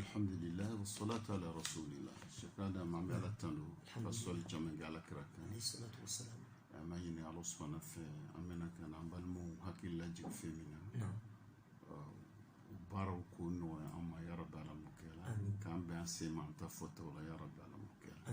alhamdulilayi salatu ala rasulillah sɛkɛ adama an bɛ ala tando ka sɔli caman kɛ ala kira kan an b'a ɲini ala subahana fɛ an bɛna ka na an balimaw hakili lajigin fɛn min na baaraw k'o nɔgɔya an ma yarabi ala m'o kɛ la k'an bɛn an sen ma an ta fɔtaw la yarabi ala m'o kɛ la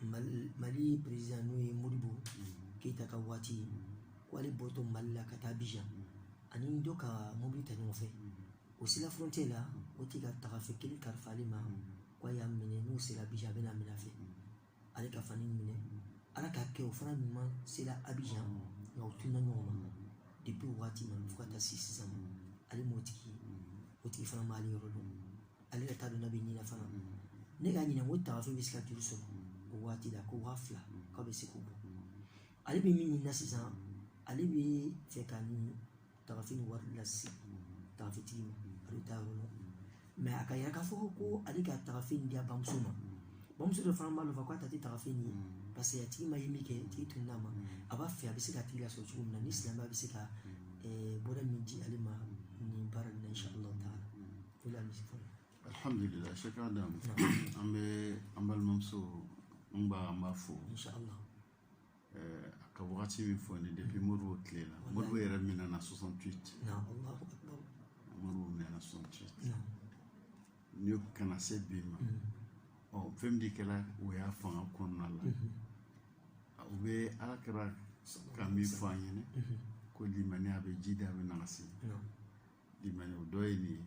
mali perezidan n'o ye modibo mm-hmm. keyita ka waati mm-hmm. ko ale bɔtɔ mali la ka taa abijan mm-hmm. a ni dɔ ka mobili ta ɲɔgɔn fɛ o sera frontier la o cɛ ka tagafe kelen kalifa ale ma ko a y'a minɛ n'o sera abijan a bɛn'a minɛ a fɛ ale ka fani minɛ ala k'a kɛ o fana ɲuman sera abijan nka o tunna ɲɔgɔn ma depuis o waati ma fo ka taa se sisan ma ale m'o tigi o tigi fana m'ale yɔrɔ dɔn ale yɛrɛ t'a dɔn n'a bɛ ni na fana ne k'a ɲininka ko tagafe bɛ se ka joli sɔrɔ o waati la ko waa fila k'a bɛ se k'o bɔ ale bɛ min ɲinina sisan ale b'a fɛ ka nin tagafe nin wari lase tagafetigi ma a bɛ taa yɔrɔ la mɛ a ka yira k'a fɔ ko ale ka tagafe in di a bamuso ma bamuso dɔ fana b'a nɔfɛ k'a ta tɛ tagafe nin ye parce que a tigi ma ye minkɛ tigi tunn'a ma a b'a fɛ a bɛ se ka tigi lasɔrɔ cogo min na ni silamɛya bɛ se ka bɔda min di ale ma nin baara nin na inshallah taala alhamdulila sɛkɛ adama an bɛ an balimamuso n ba an b'a fo a ka wagati min fɔ nin depuis modibo tile la modibo yɛrɛ minɛna 68 modibo minɛna 68 n'i y'o ka na se bi ma ɔ fɛn min de kɛra o y'a fanga kɔnɔna la u bɛ ala kira ka min fɔ an ɲɛna ko limaniya bɛ jidi a bɛ nagasi limaniya o dɔ ye nin ye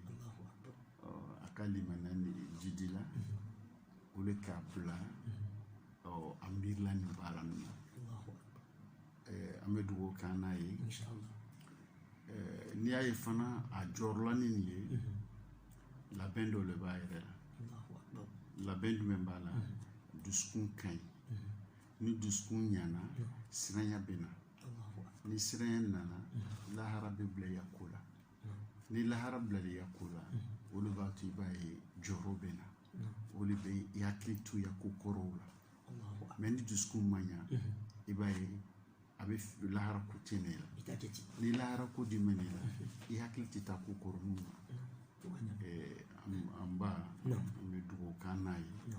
a ka limaniya nin jidila o de k'a bila a miirila nin baara ninnu ma an bɛ dugawu k'an n'a ye n'i y'a ye fana a jɔrɔla ni nin ye labɛn dɔ de b'a yɛrɛ la labɛn jumɛn b'a la dusukun ka ɲi ni dusukun ɲana siranya bɛ na ni siranya nana lahara bɛ bila i ya ko la ni lahara bilala i ya ko la o de b'a to i b'a ye jɔrɔ bɛ na o de bɛ i hakili to i ya ko kɔrɔw la mɛ ni dusukun ma ɲa i b'a ye a bɛ lahara ko tɛ ne la ni lahara ko di mɛ ne la i hakili tɛ taa ko kɔrɔninw na an ba an bɛ dugawu k'an n'a ye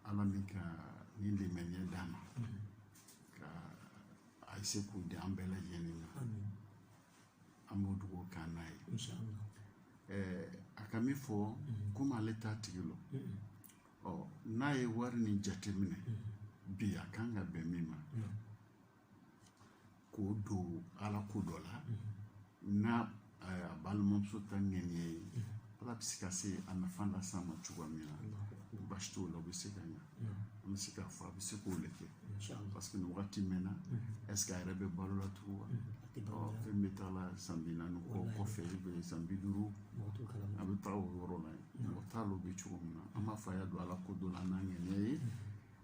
ala min ka nin limaniya d'a ma ka a sugu di an bɛɛ lajɛlen ma an b'o dugawu k'an n'a ye a ka min fɔ komi ale t'a tigi lɔn ɔ n'a ye wari nin jateminɛ bi a kan ka bɛn min ma k'o don ala ko dɔ la n'a a balimamuso ta ŋɛniya ye ala bɛ se ka se a nafa lase a ma cogoya min na baasi t'o la o bɛ se ka ɲa an bɛ se k'a fɔ a bɛ se k'o le kɛ parce que nin wagati mɛnna est ce que a yɛrɛ bɛ balo la tugun wa ɔ fɛn bɛ taa la san bi naani kɔ kɔfɛ bɛ san bi duuru a bɛ taa o yɔrɔ la yen mɔgɔ t'a lɔn o bɛ cogo min na an b'a fɔ a y'a don ala ko dɔ la n'a ŋɛniya ye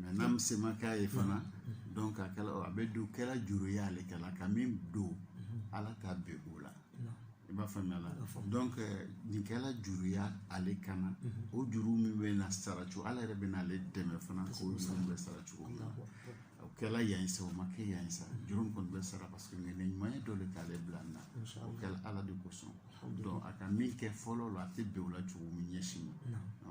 mɛ n'a bɛ semakɛ ye fana dɔn ka kɛlɛ a bɛ don kɛra juru ye ale kɛlɛ ka min don ala ta bɛ o la i b'a faamuya la dɔn nin kɛra juru ye ale kan na o juru min bɛ na sara cogo ala yɛrɛ bɛ n'ale dɛmɛ fana k'o juru bɛ sara cogo min na o kɛra yan ye sa o ma kɛ yan ye sa juru min kɔni bɛ sara paseke ŋɛniya ɲuman ye dɔ de k'ale bila nin na o kɛra ala de kosɔn dɔn a ka min kɛ fɔlɔ la a tɛ bɛn o la cogo min ɲɛsin ma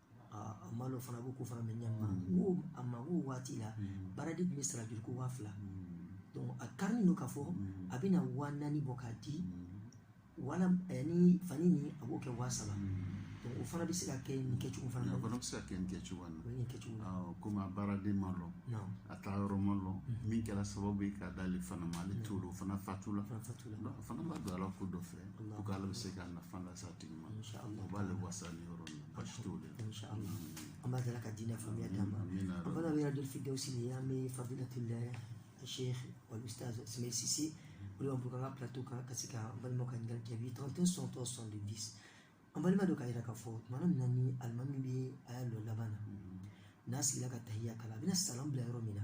a ma dɔ fana b'u ko fana bɛ ɲɛma ko a ma k'o waati la baaraden tun bɛ sara joli ko waa fila a kari don ka fɔ a bɛna waa naani bɔ k'a di wala ni fani ni a b'o kɛ waa saba o fana bɛ se ka kɛ nin kɛcogo fana na o fana bɛ se ka kɛ nin kɛcogo na nin kɛcogo na komi a baaraden ma lɔn a taa yɔrɔ ma lɔn min kɛra sababu ye k'a d'ale fana ma ale t'o o fana fatula o fana b'a don ala ko dɔ fɛ ko k'ala bɛ se k'a nafa lase a tigi ma o b'ale wasa ni yɔrɔ min an b'a dala ka diinɛ faamuya d'an ma an fana bɛ yɛrɛ firdawusi d'an bɛɛ fadilatu sheikh wal ustaz ismail sise o de b'an bolo an ka plateau kan ka se ka an balimaw ka ɲininkali jaabi 31 60 70 an balima dɔ k'a yira k'a fɔ tuma min na ni alimami bɛ a ya lɔ laban na n'a sigila ka tahiya kalan a bɛna salam bila yɔrɔ min na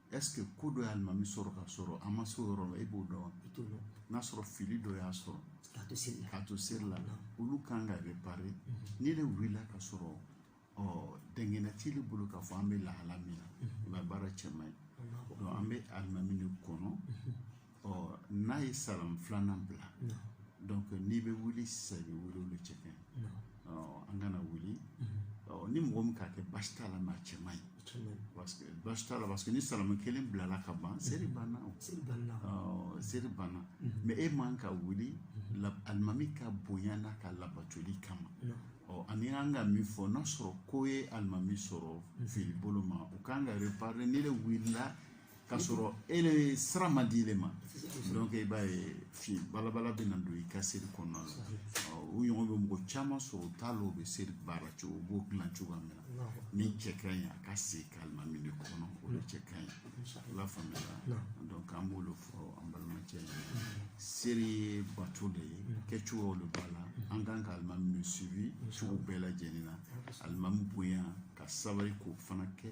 ɛseke ko dɔ y'alimami sɔrɔ k'a sɔrɔ a ma se o yɔrɔ la e b'o dɔn i t'o dɔn n'a sɔrɔ fili dɔ y'a sɔrɔ k'a to seli la k'a to seli la olu kan ka repare n'i le wulila k'a sɔrɔ ɔ dɛngɛnɛya t'i le bolo k'a fɔ an bɛ lahala min na a baara cɛ man ɲi donc an bɛ alimami de kɔnɔ ɔ n'a ye salam filanan bila donc n'i bɛ wuli sisan i bɛ wuli o le cɛ ka ɲi ɔ an kana wuli ɔ ni mɔgɔ min k'a kɛ baasi t'a la mɛ a cɛ man ɲi parce que baasi t'a la parce que ni salam kelen bilala ka ban seri banna o ɔ seri banna mɛ e man ka wuli alimami ka bonya n'a ka labatoli kama ɔ ani an ka min fɔ n'a sɔrɔ ko ye alimami sɔrɔ fili bolo ma u kan ka reparer n'i le wulila k'a sɔrɔ e le sira ma d'i le ma donc i b'a ye fi balabala bɛ na don i ka seri kɔnɔna la o ɲɔgɔn bɛ mɔgɔ caman sɔrɔ u t'a lɔn u bɛ seri baara cogo u b'o dilan cogoya min na min cɛ ka ɲi an ka se ka alimami de kɔnɔ o de cɛ ka ɲi i b'a faamuya donc an b'o de fɔ an balimacɛ ye seri ye bato de ye kɛcogoyaw de b'a la an kan ka alimami de suivi cogo bɛɛ lajɛlen na alimami bonya ka sabali k'o fana kɛ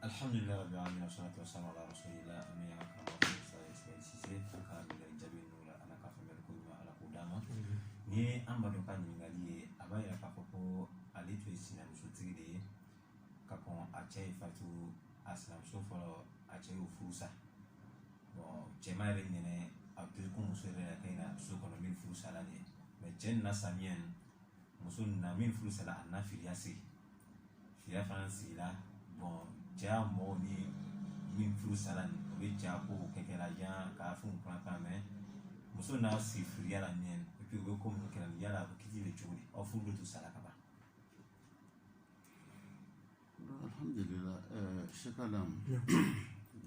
alhamdulilayi rabi alamin wa salatu wa salam ala rasulillah an bɛ ala kama fɔ sa ismail sise an ka ɲininkali jaabi ninnu la ala ka faamuyali ko ɲuman ala k'o d'an ma nin ye an baden ka ɲininkali ye a b'a yira k'a fɔ ko ale tun ye sinamusotigi de ye ka kɔn a cɛ ye fatu a sinamuso fɔlɔ a cɛ y'o furu sa bon cɛ ma yɛrɛ ɲinɛ a bɛ ko muso yɛrɛ la kɛɲɛ na so kɔnɔ min furu sala de ye mɛ cɛ nana samiya muso nana min furu sala a nana firiya sigi cɛ fana sigira bon cɛya mɔgɔw ni min furu sara nin o bɛ cɛ ko kɛ kɛra jan k'a fɛnw fana kan mɛ muso n'a sigi firiya la ɲɛ epi u bɛ ko minnu kɛra yala a bɛ kiti bɛ cogo di aw furu bɛ to sara ka ban alhamdulilah ɛɛ sekalam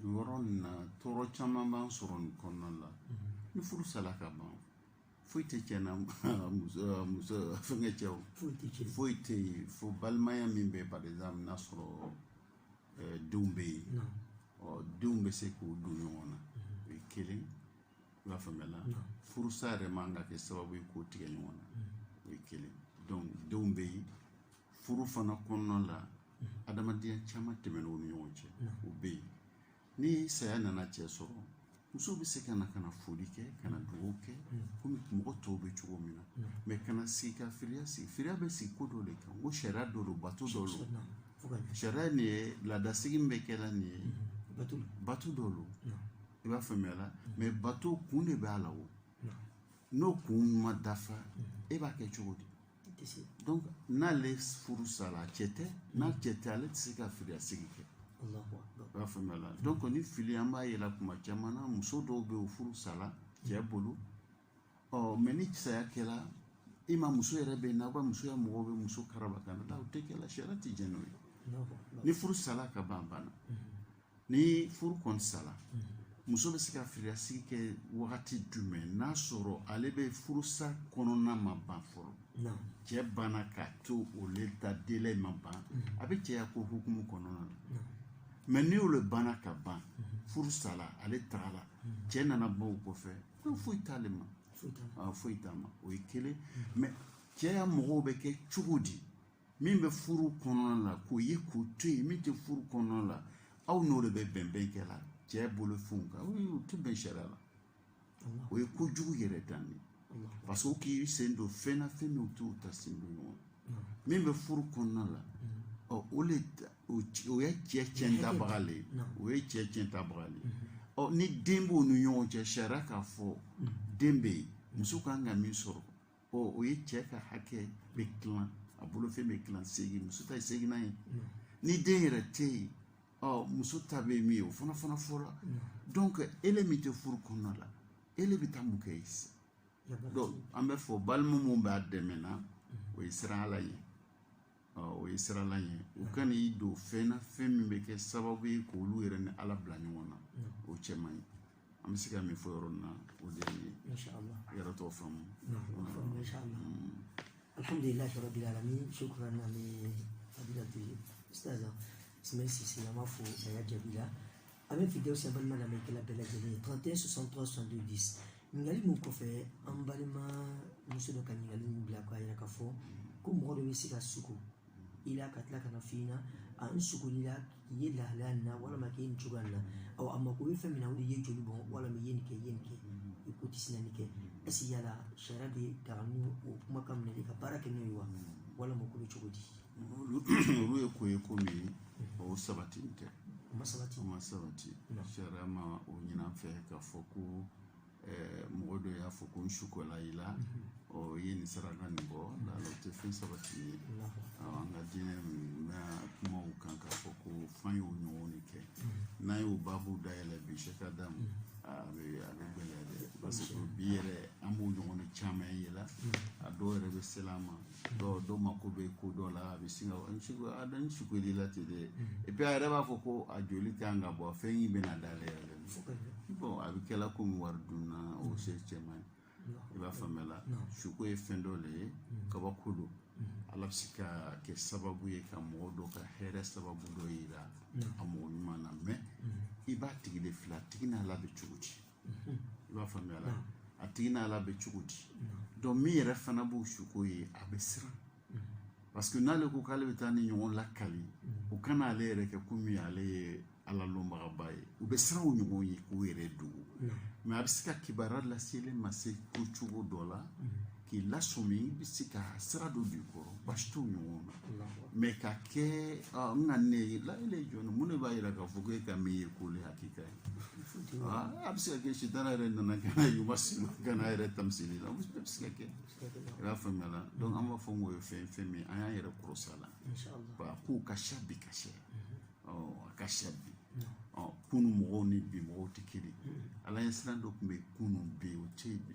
yɔrɔ nin na tɔɔrɔ caman b'an sɔrɔ nin kɔnɔna la ni furu sala ka ban foyi tɛ cɛ n'a muso muso fɛngɛ cɛ o foyi tɛ yen fo balimaya min bɛ par exemple n'a sɔrɔ eh, denw bɛ yen ɔ denw bɛ se k'u don ɲɔgɔn na mhm. o ye kelen i b'a faamuya la furusa yɛrɛ man ka kɛ sababu ye k'o tigɛ ɲɔgɔn na mhm. o ye kelen donc denw bɛ yen furu fana kɔnɔna la mhm. adamadenya caman tɛmɛn'o ni ɲɔgɔn cɛ o bɛ yen ni saya nana cɛ sɔrɔ muso bɛ se ka na ka na foli kɛ ka na dugawu kɛ komi mɔgɔ tɔw bɛ cogo min na mɛ ka na sigi ka firiya sigi firiya bɛ sigi ko dɔ de kan ko sariya dɔ don bato dɔ don sariya nin ye laadasigi min bɛ kɛ la nin ye bato dɔ don i b'a faamuya la mɛ bato kun de b'a la o n'o kun ma dafa e b'a kɛ cogo di donc n'ale furu sara a cɛ tɛ n'a cɛ tɛ ale tɛ se ka filiyasigi kɛ i y'a faamuya la donc nin fili an b'a ye le tuma caman na muso dɔw bɛ yen o furu sara cɛ bolo ɔ mɛ ni saya kɛra ima muso yɛrɛ bɛ yen n'aw ka musoya mɔgɔw bɛ muso karaba ka na o tɛ kɛ la sariya tɛ jɛn n'o ye ni furu sara ka ban banna ni furu kɔni sara muso bɛ se ka firiyasigi kɛ wagati jumɛn n'a sɔrɔ ale bɛ furusa kɔnɔna ma ban fɔlɔ cɛ banna k'a to o le ta délai ma ban a bɛ cɛya ko hukumu kɔnɔna na mɛ ni olu banna ka ban furu sala ale tagala cɛ nana ban o kɔfɛ ko foyi t'ale ma foyi t'a ma o ye kelen mɛ cɛya mɔgɔw bɛ kɛ cogo di min bɛ furu kɔnɔna la k'o ye k'o to yen min tɛ furu kɔnɔna la aw n'o de bɛ bɛnbɛn kɛ la cɛ bolofɛnw kan o tɛ bɛn sariya la o ye kojugu yɛrɛ dan de parce que k'i sen don fɛn na fɛn min t'i ta sen don ɲɔgɔn min bɛ furu kɔnɔna la ɔ o le o ye cɛ cɛn tabaga le ye o ye cɛ cɛn tabaga le ye ɔ ni den b'u ni ɲɔgɔn cɛ sariya k'a fɔ den bɛ yen muso kan ka min sɔrɔ ɔ o ye cɛ ka hakɛ bɛ tilan a bolofɛn bɛ tilan seegin muso ta ye seeginnan ye ni den yɛrɛ tɛ yen ɔ muso ta bɛ min ye o fana fana fɔra donc ele min tɛ furu kɔnɔna la ele bɛ taa mun kɛ yen sisan donc an b'a fɔ balima mun b'a dɛmɛ na o ye siran ala ye o ye siran ala ye u kana i don fɛn na fɛn min bɛ kɛ sababu ye k' olu yɛrɛ ni ala bila ɲɔgɔn na o cɛ man ɲi an bɛ se ka min fɔ yɔrɔ na o de ye yɛrɛ tɔgɔ faamu alhamdulilayi rabil alamin sukura na ni abidatu ye sisan sisi an b'a fɔ a y'a jaabi la a bɛ fidɛw sɛbɛn na lamɛnnikɛla bɛɛ lajɛlen ye 31 63 62 10 ɲininkali min kɔfɛ an balima muso dɔ ka ɲininkali min bila k'a yira k'a fɔ ko mɔgɔ dɔ bɛ se ka suko i la ka tila ka na f'i ɲɛna a n sugola i la k'i ye lahalaya nin na walima k'i ye nin cogoya nin na ɔ a mako bɛ fɛn min na o de ye joli bɔn walima i ye nin kɛ i ye nin kɛ i ko tɛ sina nin kɛ ɛsi yala sariya b'a daga an k'o kumakan minɛ de ka baara kɛ n'o ye wa walima ko bɛ cogo di olu ye ko ye ko min ye o sabati tɛ o ma sabati o ma sabati sariya ma o ɲinan fɛ k'a fɔ ko eh, mɔgɔ dɔ y'a fɔ ko n sukola i la mhm. ɔ i ye nin saraka nin bɔ la o tɛ fɛn sabati ye an ka diinɛ min bɛ kuma o kan k'a fɔ ko f'an y'o ɲɔgɔn de kɛ mhm. n'an y'o baabu dayɛlɛ bi sɛka da mu a bɛ a bɛ gɛlɛya dɛ parce que bi yɛrɛ an b'o ɲɔgɔn caman ye la a dɔw yɛrɛ bɛ sela an ma dɔw dɔw mako bɛ ko dɔ la a bɛ sin ka n sugo a da n sugo de la ten dɛ mm-hmm. et puis a yɛrɛ b'a fɔ ko a joli tɛ yan ka bɔ fɛn in bɛna da ale yɛrɛ bɔn a bɛ kɛla komi wari dunna o mm-hmm. o cɛ man ɲi i b'a faamuya la suko ye fɛn dɔ de ye mm-hmm. kabako don ala bɛ se ka kɛ sababu ye ka mɔgɔ dɔ ka hɛrɛ sababu dɔ yira a mɔgɔ ɲuman na mais i b'a tigi de filɛ a tigi n'ala bɛ cogo di i b'a faamuya la a tigi n'ala bɛ cogo di jɔn min yɛrɛ fana b'o suko ye a bɛ siran parce que n'ale ko k'ale bɛ taa nin ɲɔgɔn lakali u kana ale yɛrɛ kɛ komi ale ye ala lɔnbagaba ye u bɛ siran o ɲɔgɔn ye k'u yɛrɛ dogo mais a bɛ se ka kibaruya lase ele ma se ko cogo dɔ la k'i lasɔmi i bɛ se ka sira dɔ don i kɔrɔ baasi t'o ɲɔgɔn na mais k'a kɛ n ka ne ye ala yɛrɛ jɔn mun de b'a jira k'a fɔ ko e ka min ye k'o le hakika ye a bɛ se ka kɛ sitana yɛrɛ nana ka na yuba sima ka na yɛrɛ tamisili la a bɛ se ka kɛ i y'a faamuya la donc an b'a fɔ k'o ye fɛn fɛn min an y'an yɛrɛ kɔrɔsi a la ba k'u ka siya bi ka siya ɔ a ka siya bi ɔ kunu mɔgɔw ni bi mɔgɔw tɛ kelen ala ɲɛsiran dɔ tun bɛ kunu bɛ o tɛ yen bi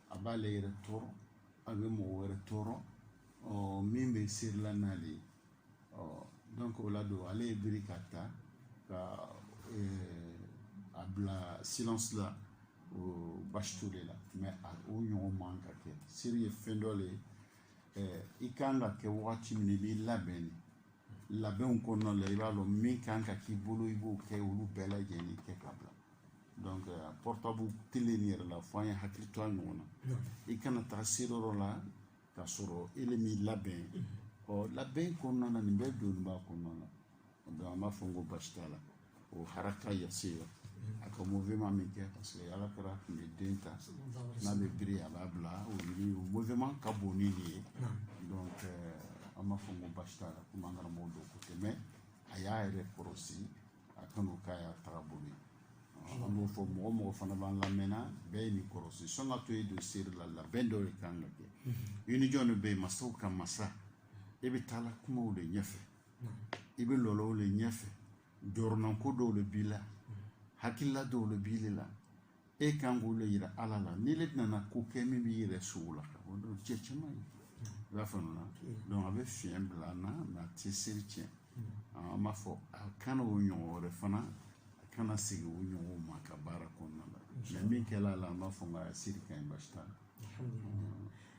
a b'ale yɛrɛ tɔɔrɔ a bɛ mɔgɔ wɛrɛ tɔɔrɔ ɔ min bɛ seri la n'ale ye ɔ donc o la don ale ye biri k'a ta ka eh, a bila silence la o basi t'o le la mais a o ɲɔgɔn man ka kɛ seri ye fɛn dɔ le ye eh, i kan k'a kɛ wagati min na i b'i labɛn de labɛnw kɔnɔna la i b'a dɔn min kan ka k'i bolo i b'o kɛ olu bɛɛ lajɛlen kɛ ka bila donc euh, portable tele nin yɛrɛ la fo an ye hakili to a ɲɔgɔn na i kana taa seriyɔrɔ la ka sɔrɔ ele m'i labɛn ɔ labɛn kɔnɔna na nin bɛɛ donnin b'a kɔnɔna na donc an b'a fɔ ko basi t'a la o haraka yasira a ka mouvement min kɛ parce que ala kira tun bɛ den ta n'a bɛ biri a b'a bila o yɛrɛ o mouvement ka bon ni nin ye donc an b'a fɔ ko basi t'a la komi an karamɔgɔ don ko tɛ mɛ a y'a yɛrɛ kɔrɔsi a kan'o k'a ya tagabolo an b'o fɔ mɔgɔ mɔgɔ fana b'an lamɛn na bɛɛ ye nin kɔrɔsi sani ka to ye don seri la labɛn dɔ de kan ka kɛ i ni jɔn de bɛ yen masaw ka masa e bɛ taa la kuma o de ɲɛfɛ i bɛ lɔ la o de ɲɛfɛ jɔrɔnanko dɔw de b'i la hakilila dɔw de b'i la e kan k'o de yira ala la n'i le nana ko kɛ min b'i yɛrɛ sogo la o don cɛ caman ye i b'a faamuya donc a bɛ fiɲɛ bila an na mɛ a tɛ seri tiɲɛ an b'a fɔ a kana o ɲɔgɔn wɛrɛ fana a kana segin o ɲɔgɔnw ma ka baara kɔnɔna la mɛ min kɛla a la an b'a fɔ nka a seri ka ɲi basi t'a la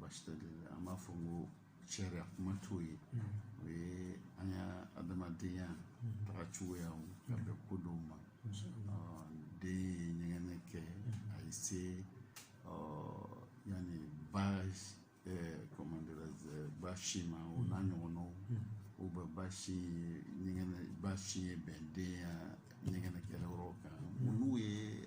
basi tɛ an b'a fɔ ko sariya kuma t'o ye o ye an ya adamadenya taga cogoya ka bɛn ko dɔw ma den ye ɲɛgɛnɛ kɛ a ye se yanni ba comment dirais-je basi ma o n'a ɲɔgɔnnaw u bɛ basi ɲɛgɛnɛ basi ye ben den ya ɲɛgɛnɛ kɛyɔrɔ kan olu ye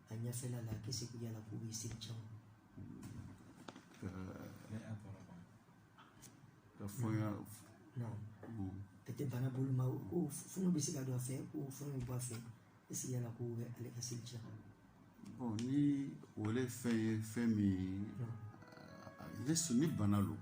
a ɲɛfɛla la k'est-ce que yala k'o bɛ seri cɛn wa ka fɔ n y'a non ka tɛ bana bolo ma ko fɔɲɔ bɛ se ka don a fɛ ko fɔɲɔ bɛ bɔ a fɛ est-ce que yala k'o bɛ ale ka seli cɛn bon ni o le fɛn ye fɛn min ye ne su ni bana don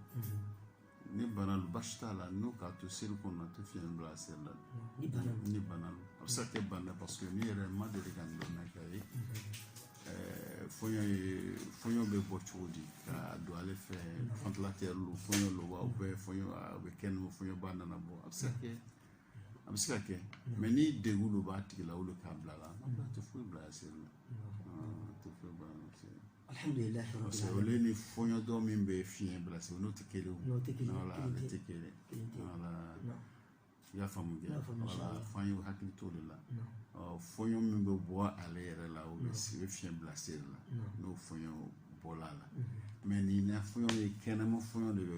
Ni bana basi t'a la n'o k'a to seli kɔnɔ a tɛ fiɲɛ bila a seli la ni bana ni bana a bɛ se ka kɛ bana parce que ne yɛrɛ ma deli ka ndomi kɛ ye mhm. fɔɲɔ ye fɔɲɔ bɛ bɔ cogo di ka don ale fɛ ventilateur mhm. don fɔɲɔ don wa u bɛ fɔɲɔ a bɛ kɛ n'o fɔɲɔba nana bɔ a bɛ se ka kɛ a bɛ se ka kɛ mhm. mɛ ni degun dɔ b'a tigi la o de k'a bila la a tɛ foyi bila a seli la a tɛ foyi bila a seli alhamdulilayi parce que olu ni fɔɲɔ dɔ min bɛ fiɲɛ bila seli n'o tɛ kelen o n'o tɛ kelen wala ale tɛ kelen wala i y'a faamu kɛ wala f'an ye hakili t'o de la fɔɲɔ min bɛ bɔ ale yɛrɛ la o bɛ se fiɲɛ bila seli la n'o fɔɲɔ bɔla la mais nin na fɔɲɔ ye kɛnɛma fɔɲɔ de bɛ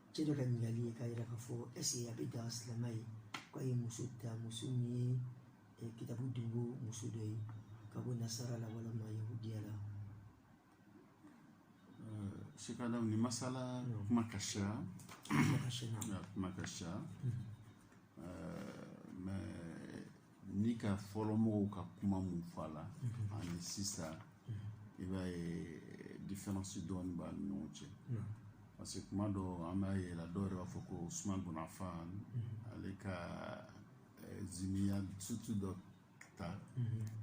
cɛ dɔ ka ɲininkali ye k'a yira k'a fɔ est ce que a bɛ daga silamɛ ye k'a ye muso ta muso min ye eh, kitabu dunko muso dɔ ye ka bɔ nasara la walima yahudiya la shekalaw nin masala kuma ka ca kuma ka ca kuma ka ca ni ka fɔlɔmɔgɔw ka kuma min fɔ a la mhm. ani sisan mhm. i b'a ye diferansi dɔɔni b'a ni ɲɔgɔn cɛ parce que kuma dɔ an b'a ye la dɔw yɛrɛ b'a fɔ ko usman bun afan mhm. ale ka eh, zimiya muso dɔ ta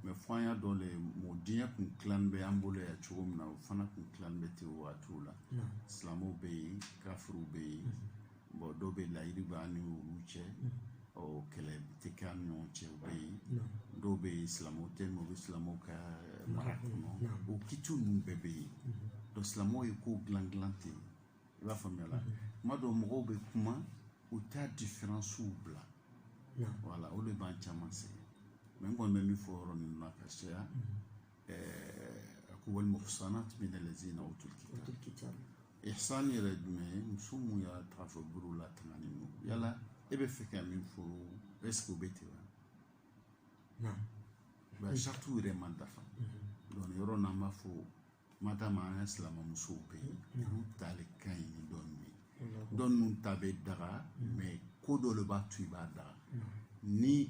mais fo an y'a dɔn le mɔgɔ diɲɛ kun tilan bɛ an bolo yan cogo min na o fana kun tilan bɛ ten waatiw la silamɛw bɛ yen kafiriw bɛ yen bon dɔw bɛ layidu bɛ an ni olu cɛ ɔ kɛlɛ tɛ kɛ an ni ɲɔgɔn cɛ u bɛ yen dɔw bɛ yen silamɛw tɛ yen u bɛ silamɛw ka mara kɔnɔ o kitiw ninnu bɛɛ bɛ yen donc silamɛw ye ko dilan dilan ten i b'a faamuya la kuma dɔw mɔgɔw bɛ kuma u t'a diferansiw bila wala o de b'an caman sɛgɛn mais n kɔni bɛ min fɔ yɔrɔ ninnu na ka caya wal muhsanat min allazina utul kitab ihsan yɛrɛ jumɛn ye muso min y'a ta fɔ buru la tangani no yala e bɛ fɛ ka min fɔ est ce que o bɛ ten wa non ba sartu yɛrɛ man dafa donc yɔrɔ n'an b'a fɔ mata ma an ka silamɛ musow bɛ yen olu tali ka ɲi ni dɔw ye dɔ ninnu ta bɛ daga mais ko dɔ le b'a to i b'a daga ni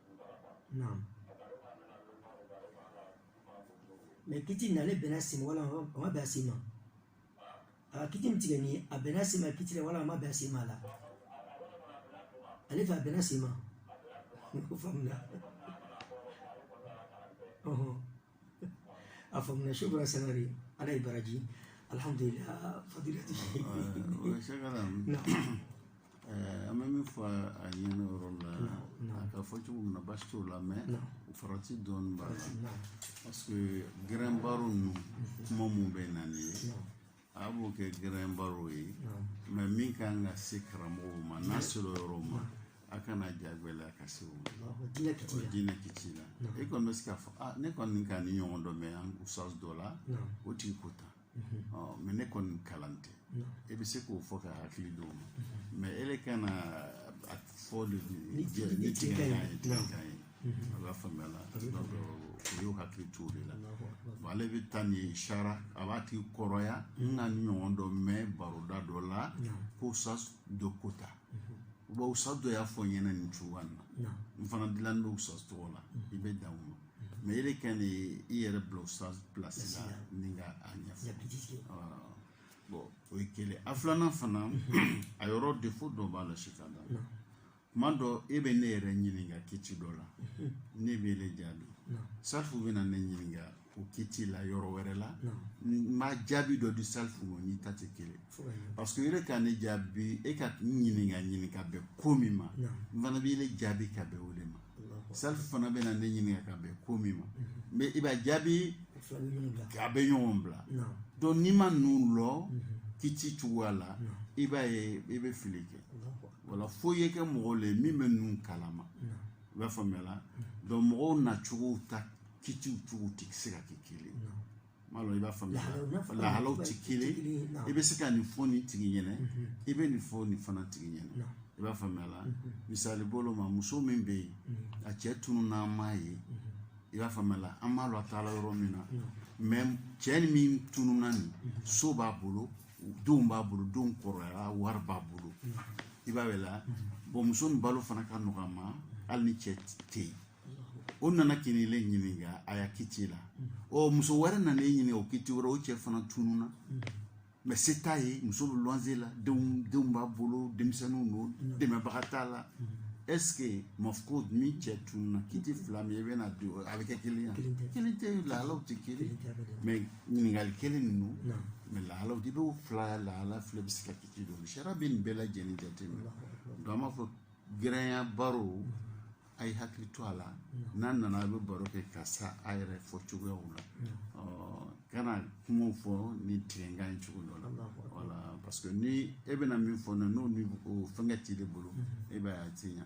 naam mais kiti n'ale bɛnna sen ma walima a ma bɛn a sen ma a kiti min tigɛ ni a bɛnna sen ma kiti la walima a ma bɛn a sen ma la ale fɛ a bɛnna sen ma o faamuna ɔhɔn a faamuna su bɔra sangare ala y'i baraji alhamdulilah fadilati o ye sɛgɛ la ɛɛ, an bɛ min fɔ a ɲɛna yɔrɔ la a ka fɔ cogo min na baasi t'o la mais farati dɔɔni b'a la parce que gɛrɛnbaro ninnu kuma min bɛ na nin ye a b'o kɛ gɛrɛnbaro ye mais min ka kan ka se karamɔgɔw ma n'a sera o yɔrɔ ma a kana jagɛlɛya ka se o ma diinɛ kiti la e kɔni bɛ se k'a fɔ ne kɔni ka nin ɲɔgɔn dɔ mɛn ustaz dɔ la o tigi ko tan mais ne kɔni kalan tɛ e bɛ se k'o fɔ ka hakili d'o ma mais e kana a fɔ de ni tigɛ ye tigɛ ye a b'a faamuya la aw y'aw hakili to o de la bon ale bɛ taa nin sara a b'a tigi kɔrɔya n ka ɲɔgɔn dɔ mɛn baroda dɔ la k'usta dɔ ko tan wa usta dɔ y'a fɔ n ɲɛna nin cogoya in na n fana dilanni bɛ usta tɔgɔ la i bɛ dan o ma mɛ e de kɛ ni i yɛrɛ bila usta pilasi la ni ka a ɲɛfɔ bɔn o ye kelen a filanan fana a yɔrɔ defo dɔ b'a la si ka da tuma dɔ e bɛ ne yɛrɛ ɲininka kiti dɔ la ne bɛn'e jaabi salifu bɛna ne ɲininka o kiti la yɔrɔ wɛrɛ la n bɛ jaabi dɔ di salifu ma n'i ta tɛ kelen parce que yɛrɛ ka ne jaabi e ka n ɲininka ɲininka bɛn ko min ma n fana bɛn'e jaabi ka bɛn o de ma salifu fana bɛna ne ɲininka ka bɛn ko min ma mɛ i b'a jaabi a bɛ ɲɔgɔn bila donc n'i ma ninnu lɔn kiti cogoya la i b'a ye i bɛ fili kɛ wala fo i ye kɛ mɔgɔ le min bɛ ninnu kalama i b'a faamuya la donc mɔgɔw nacogow ta kitiw cogo tɛ se ka kɛ kelen n m'a dɔn i b'a faamuya lahalaw tɛ kelen i bɛ se ka nin fɔ nin tigi ɲɛna i bɛ nin fɔ nin fana tigi ɲɛna i b'a faamuya la misali bolo ma muso min bɛ yen a cɛ tununna an m'a ye i b'a faamuya la an b'a dɔn a taala yɔrɔ min na mɛ cɛ min tununna nin so b'a bolo denw b'a bolo denw kɔrɔyara wari b'a bolo i b'a ye la bɔn muso nin balo fana ka nɔgɔ a ma hali ni cɛ tɛ yen o nana ka n'ile ɲininka a ya kiti la ɔ muso wɛrɛ nana e ɲininka o kiti wɛrɛ o cɛ fana tununna mɛ se t'a ye muso bɛ luwanze la denw denw b'a bolo denmisɛnninw don dɛmɛbaga t'a la est ce que mafkudi cɛ tununna kiti fila min i bɛna don a bɛ kɛ kelen ye kelen tɛ lahalaw tɛ kelen mɛ ɲininkali kelen ninnu mɛ lahala i b'o fila lahala fila bɛ se ka kiti don sariya bɛ nin bɛɛ lajɛlen jateminɛ donc an b'a fɔ gɛrɛn ya baro a y'aw hakili to a la n'a nana a bɛ baro kɛ ka sariya fɔ cogoyaw la ka na kumaw fɔ ni tigɛnkan ye cogo dɔ la wala parce que ni e bɛna min fɔ n'o ni fɛnkɛ t'i de bolo e b'a ye a tɛ ɲa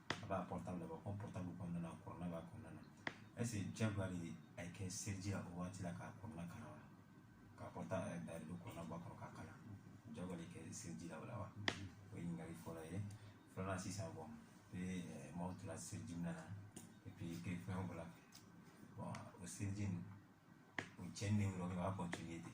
a b'a portable bɔ ko portable kɔnɔna na kurana b'a kɔnɔna na est ce jagoya de a ye ka seliji la o waati la ka kurana kalan wa k'a portable dayɛlɛ don kurana bɔ a kɔnɔ k'a kalan jagoya de ka seliji la o la wa o ye ɲininkali fɔlɔ ye filanan sisan bɔn i bɛ maaw tora seliji minɛ na epi i kɛ fɛn bɔ la bɔn o seliji nin o cɛnni de y'o la o b'a kɔntiniye ten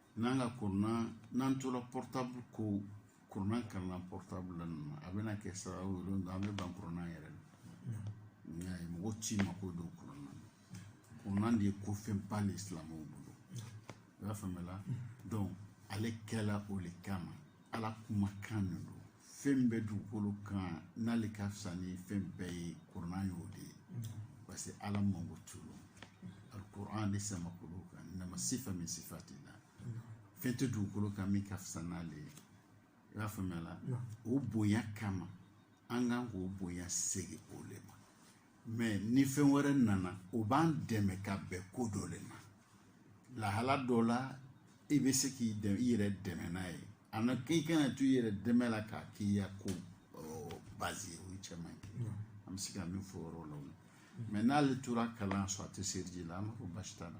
n'an ka kurana n'an tora portable ko kurana kalan na portable la ninnu a bɛna kɛ sababu ye donc an bɛ ban kurana yɛrɛ la n'i y'a ye mɔgɔ t'i mako don kurana na kurana de ye ko fɛnba de ye silamɛw bolo i b'a faamuya donc ale kɛla o de kama ala kumakan de don fɛn bɛ dugukolo kan n'ale ka fisa ni fɛn bɛɛ ye kurana y'o de ye parce que ala mango tulu alikuran ne samakolo kan nama sifa min sifa tɛ na fɛn tɛ dugukolo kan min ka fisa n'ale ye i b'a faamuya la o bonya kama an kan k'o bonya segin o le ma mais ni fɛn wɛrɛ nana o b'an dɛmɛ ka bɛn ko dɔ le ma lahala dɔ la i bɛ se k'i i yɛrɛ dɛmɛ n'a ye ani i kana to i yɛrɛ dɛmɛ la k'a k'i ya ko bazi ye o le cɛ man ɲi an bɛ se ka min fɔ o yɔrɔ la o la mais n'ale tora kalan sɔrɔ a tɛ seriji la an b'a fɔ basi t'a la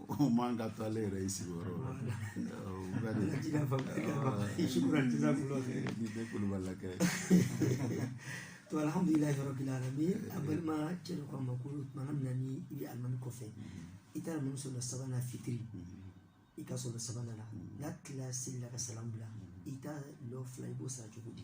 o man ka to ale yɛrɛ y'i sigi yɔrɔ la ni tɛ kulubali kɛ to alhamdulilayi rabil alamina an balimacɛ dɔ kan ma ko tuma min na ni i bɛ alimami kɔfɛ i taara ninnu sɔrɔ sabanan fitiri i k'a sɔrɔ sabanan la n'a tilala seli la ka salamu bila i ta lɔ fila i b'o sara cogo di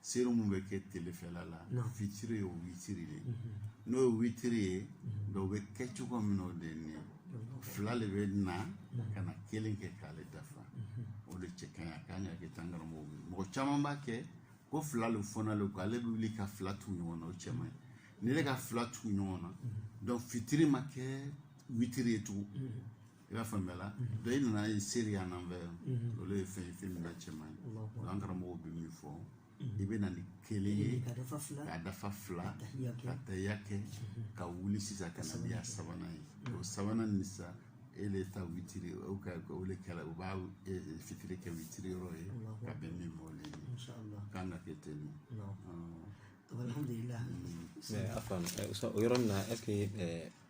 seri min bɛ kɛ telefɛla la fitiri ye o witiri de n'o ye witiri ye o bɛ kɛ cogo min o de ye fila de bɛ na ka na kelen kɛ k'ale dafa o de cɛ ka ɲi a kan ka kɛ tan karamɔgɔ ye mɔgɔ caman b'a kɛ ko fila le fɔna ale kɔ ale bɛ wuli ka fila tugu ɲɔgɔn na o cɛ man ɲi n'i ka fila tugu ɲɔgɔn na fitiri ma kɛ witiri ye tugun i b'a faamuya la dɔ i nana ye seri yan nan fɛ olu ye fɛn ye fɛn min n'a cɛ man ɲi o an karamɔgɔw bɛ min fɔ i bɛ na ni kelen ye k'a dafa fila k'a dafa fila tahiya kɛ. ka tahiya kɛ ka wuli sisan ka na n'i ya sabanan ye o sabanan nin sa e le ta witiri o ka o le kɛra u b'a e, e, fitiri kɛ witiri yɔrɔ ye ka bɛn min ma o le ye insha allah kan ka kɛ ten nin Allahu akbar. alhamdulillah Mais, Afan, euh, so- o yɔrɔ la, est-ce que euh,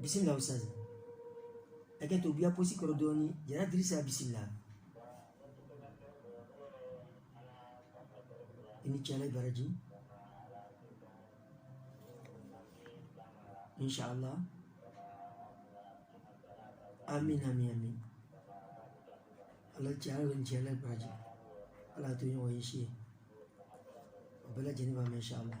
bisimila ustaz hakɛ to i b'i ya posi kɔrɔ dɔɔni jara dirisa bisimila i ni ce ala baraji inshallah amin amin amin ala cɛla ni ce ala baraji ala to ɲɔgɔn ye si ye o bɛɛ lajɛlen b'a mɛn inshallah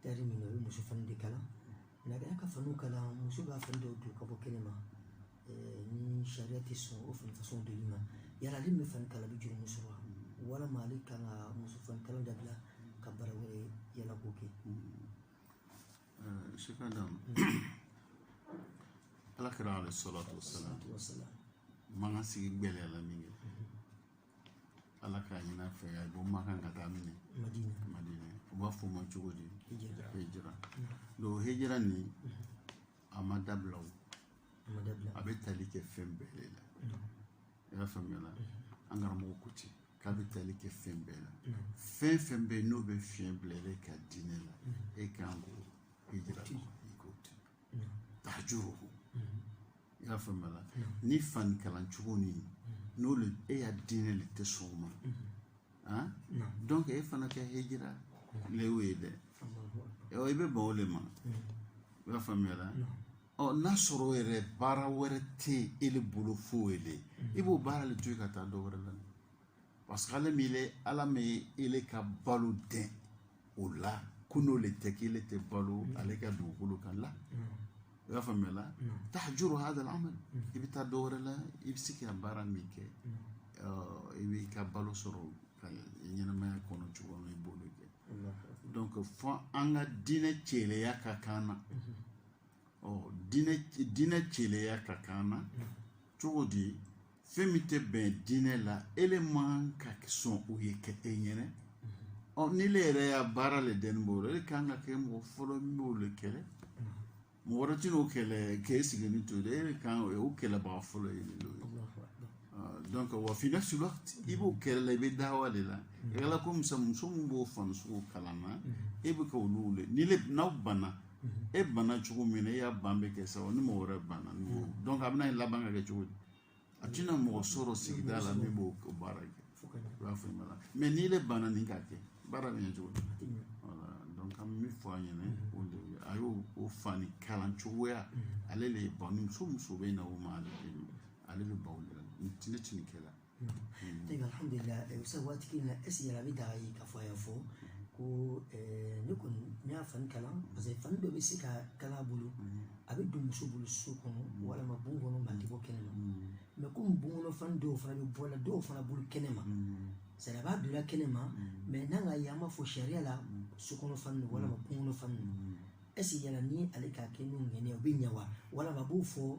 Tayɛri min o ye muso fani de kala n'a ka fani kala muso b'a fani dɔw don ka bɔ kɛnɛ ma ni sariya tɛ sɔn o fani fasɔn donli ma yala ale bɛ fani kala bɛ jurumu sɔrɔ wa walima ale kan ka muso fani kala dabila ka baara wɛrɛ yaala k'o kɛ sika da ala kɛra ale sɔrɔ to sala mankan sigi gbɛlɛya la min kɛ ala k'a ɲin'a fɛ a bɔ makan ka taa min madina madina u b'a fɔ o ma cogo di hijira hijira donc hijira nin a ma dabila o a ma dabila a bɛ tali kɛ fɛn bɛɛ de la i y'a faamuya la an karamɔgɔ ko ten k'a bɛ tali kɛ fɛn bɛɛ la fɛn fɛn bɛ yen n'o bɛ fiɲɛ bila e ka diinɛ la e kan k'o hijira kɛ tahajuru i y'a faamuya la ni fani kalan cogo ni n'o le e ya diinɛ le tɛ sɔn o ma ah donc e fana ka hijira le y'o ye dɛ ɔ i bɛ ban o le ma i y'a faamuya la ɔ n'a sɔrɔ yɛrɛ baara wɛrɛ tɛ e le bolo fo o le i b'o baara le to yen ka taa dɔ wɛrɛ la parce que ale min ye ala ma ele ka balo dan o la ko n'o le tɛ k'ele tɛ balo ale ka dugukolo kan la i y'a faamuya la tahjuru hada al-amal i bɛ taa dɔ wɛrɛ la i bɛ se ka baara min kɛ i b'i ka balo sɔrɔ ka ɲɛnamaya kɔnɔ cogo min i b'o de kɛ donc fo an ka diinɛ celeya ka k'an na ɔ diinɛ diinɛ celeya ka k'an na cogo di fɛn min tɛ bɛn diinɛ la ele man kan ka sɔn o ye kɛ e ɲɛna ɔ n'i le yɛrɛ ya baara le dɛni b'o la e kan ka kɛ mɔgɔ fɔlɔ min b'o le kɛlɛ mɔgɔ wɛrɛ tɛna o kɛlɛ k'e sigilen to dɛ e kan o ye o kɛlɛbaga fɔlɔ ye nin ye donc wa fi nafsi waqt i b'o kɛlɛ la i bɛ dawa de la i ka la ko muso muso min b'o fani sugu kalan na e bɛ ka olu wele ni le n'aw banna e banna cogo min na e ya ban bɛ kɛ sa ni mɔgɔ wɛrɛ banna donc a bɛna laban ka kɛ cogo di a tɛna mɔgɔ sɔrɔ sigida la min b'o baara kɛ i b'a fɔ ma mɛ n'i le banna nin k'a kɛ baara bɛ ɲɛ cogo di wala donc an b'a fɔ a ɲɛna o de ye a y'o o fani kalan cogoya ale de ye ban muso muso bɛ na o ma ale de ale bɛ baw de la ni tini tini kɛla alhamdulilayi eh, sa waati in na esi yɛrɛ a bɛ daga a ye k'a fɔ a y'a fɔ ko eh, ne kɔni ne y'a fani kalan parce que fani dɔ bɛ se ka kala a bolo a bɛ don muso bolo so kɔnɔ walima bon kɔnɔ nka a tɛ bɔ kɛnɛ ma mɛ komi bon kɔnɔ fani dɔw fana bɛ bɔ la dɔw fana bolo kɛnɛ ma sari a b'a don la kɛnɛ ma mɛ n'an k'a ye an b'a fɔ sariya la so kɔnɔ fani don walima bon kɔnɔ fani don ɛsi yala ni ale k'a kɛ n'o ŋaniya o bɛ ɲɛ wa walama a b'o fɔ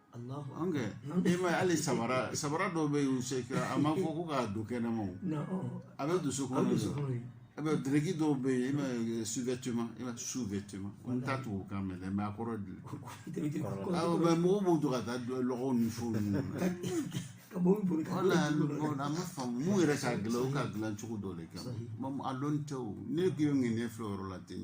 e ma hali samara samara dɔw bɛ yen se a ma fɔ ko k'a don kɛnɛ ma a bɛ don so kɔnɔ a bɛ dɛrɛki dɔw bɛ yen e sous-vêtement e sous-vêtement ko n tɛ tubabukan mɛn mɛ a kɔrɔ de mɛ mɔgɔw b'u to ka taa lɔgɔw ni fɛnw ninnu wala a ma faamu mun yɛrɛ k'a dilan u k'a dilan cogo dɔ de kama a dɔn tɛ o ne tun ye ŋaniya filɛ o yɔrɔ la ten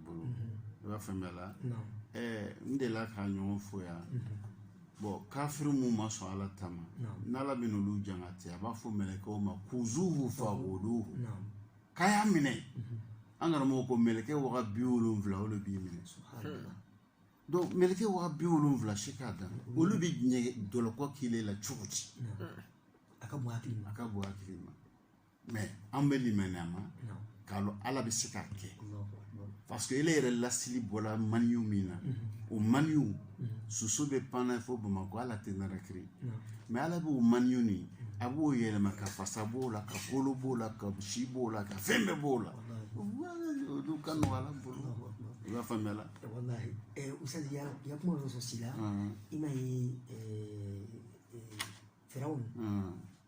bolo i b'a faamuya la n delila k'a ɲɔgɔn fɔ yan bɔn kafiri min ma sɔn ala ta ma n'ala bɛ n'olu jangata a b'a fɔ mɛlɛkɛw ma kuzuhu faguluhu k'a y'a minɛ an karamɔgɔ ko mɛlɛkɛ waga bi wolonfila o de b'i minɛ donc mɛlɛkɛ waga bi wolonfila si k'a dan olu bɛ nɛgɛ jɔlɔkɔ k'i la cogo di a ka bon hakili ma a ka bon hakili ma mɛ an bɛ limaniya a ma k'a lɔn ala bɛ se k'a kɛ parce que ele yɛrɛ lasili bɔla maniyu min na o maniyu soso bɛ pan na fo bamakɔ ala tɛ narakiri mɛ ala b'o maniyu nin a b'o yɛlɛma ka fasa b'o la ka kolo b'o la ka si b'o la ka fɛn bɛɛ b'o la olu ka nɔgɔ ala bolo i b'a faamuya la walahi usadi ya kuma dɔ sɔrɔ si la i ma ye fɛrɛw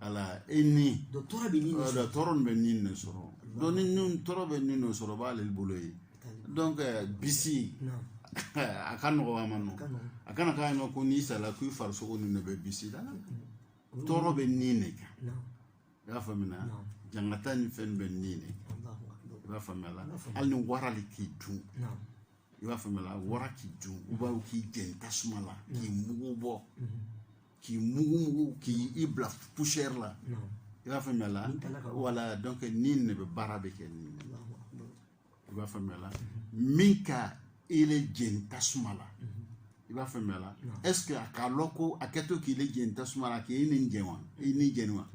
ala e ni don tɔɔrɔ bɛ ni de sɔrɔ donc ni tɔɔrɔ bɛ ni de sɔrɔ b'ale bolo ye donc bisi a ka nɔgɔ a ma nɔ a kana k'a ma ko n'i sala k'i farisogo nin de bɛ bisi la tɔɔrɔ bɛ ni de kan i y'a faamuya jangata ni fɛn bɛ ni de kan i b'a faamuya la hali ni wara de k'i dun i b'a faamuya la wara k'i dun ou bien k'i jeni tasuma la k'i mugu bɔ k'i mugu mugu k'i i bila poussière la i b'a faamuya la voilà donc ni ne bɛ baara bɛɛ kɛ ni i b'a faamuya la min ka ele jeni tasuma la i b'a faamuya la est ce que a k'a lɔn ko a kɛtɔ k'i le jeni tasuma la k'i ni jeni wa i ni jeni wa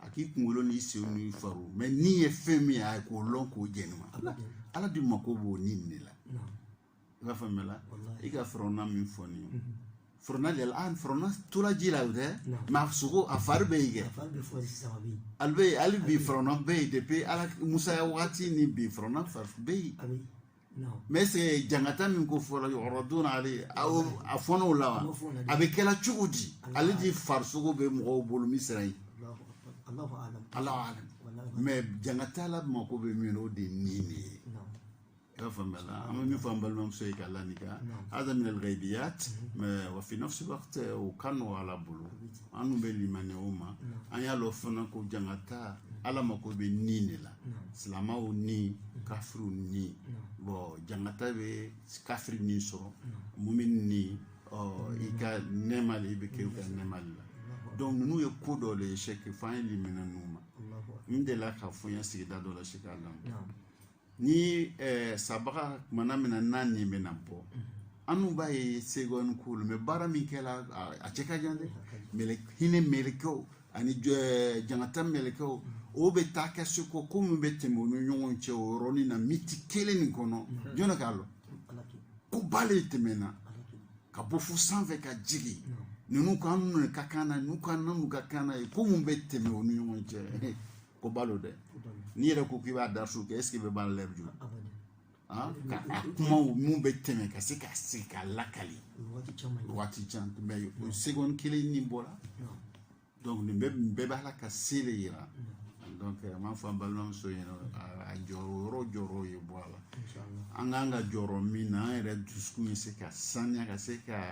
a k'i kunkolo n'i senw n'i fariw mɛ ni ye fɛn min ye a ye k'o lɔn k'o jeni wa ala de mako b'o ni nin de la i b'a faamuya la i ka firawuna min fɔ nin ye firawuna de an firawuna tora ji la o tɛ mɛ a sogo a fari bɛ yen kɛ ale bɛ yen hali bi firawuna bɛ yen depuis ala musa ya wagati ni bi firawuna fari bɛ yen mɛ est ce jangata min ko fɔra yɔrɔ don ale a fɔnɔw la wa a bɛ kɛla cogo di ale de farisogo bɛ mɔgɔw bolo misira yen ala mɛ jangata ala mako bɛ min o de ye ni de ye i y'a faamuya la an bɛ min fɔ an balimamuso ye k'a lanika hada min alghaibiyat mɛ wa fi nafsi waqti o ka nɔgɔ ala bolo an dun bɛ limaniya o ma an y'a lɔn fana ko jangata ala mako bɛ ni de la silamaw ni kafiriw ni bɔn jangata bɛ kafiri ni sɔrɔ mumin ni ɔ i ka nɛɛma de i bɛ kɛ i ka nɛɛma de la donc ninnu ye ko dɔ de ye c'est qu'il faut an ye limaniya ninnu ma n delila k'a fɔ n ye sigida dɔ la sɛki a lamu ni sabaga tumana min na n'a nin bɛna bɔ an dun b'a ye segɔni k'olu mɛ baara min kɛra a cɛ ka jan dɛ mɛlɛ hinɛ mɛlɛkɛw ani jangata mɛlɛkɛw o bɛ taa kɛ seko ko min bɛ tɛmɛ u ni ɲɔgɔn cɛ o yɔrɔnin na miniti kelen nin kɔnɔ jɔnni k'a lɔn ko ba le tɛmɛna ka bɔ fo sanfɛ ka jigin ninnu k'an minɛ ka kan na ninnu k'an na n'u ka kan na ye ko mun bɛ tɛmɛ u ni ɲɔgɔn cɛ ko ba lo dɛ n'i yɛrɛ ko k'i b'a da su kɛ est-ce que bɛ baara la jumɛn ah, ka a kumaw min bɛ tɛmɛ ka se ka sigi k'a lakali waati jan mɛ o segɔni kelen ni bɔra donc nin bɛɛ nin bɛɛ bɛ ala ka se de yira donc an b'a fɔ an balimamuso ɲɛna a jɔyɔrɔ yɔrɔ jɔrɔ ye bɔ a la an kan ka jɔrɔ min na an yɛrɛ dusukun bɛ se ka saniya ka se ka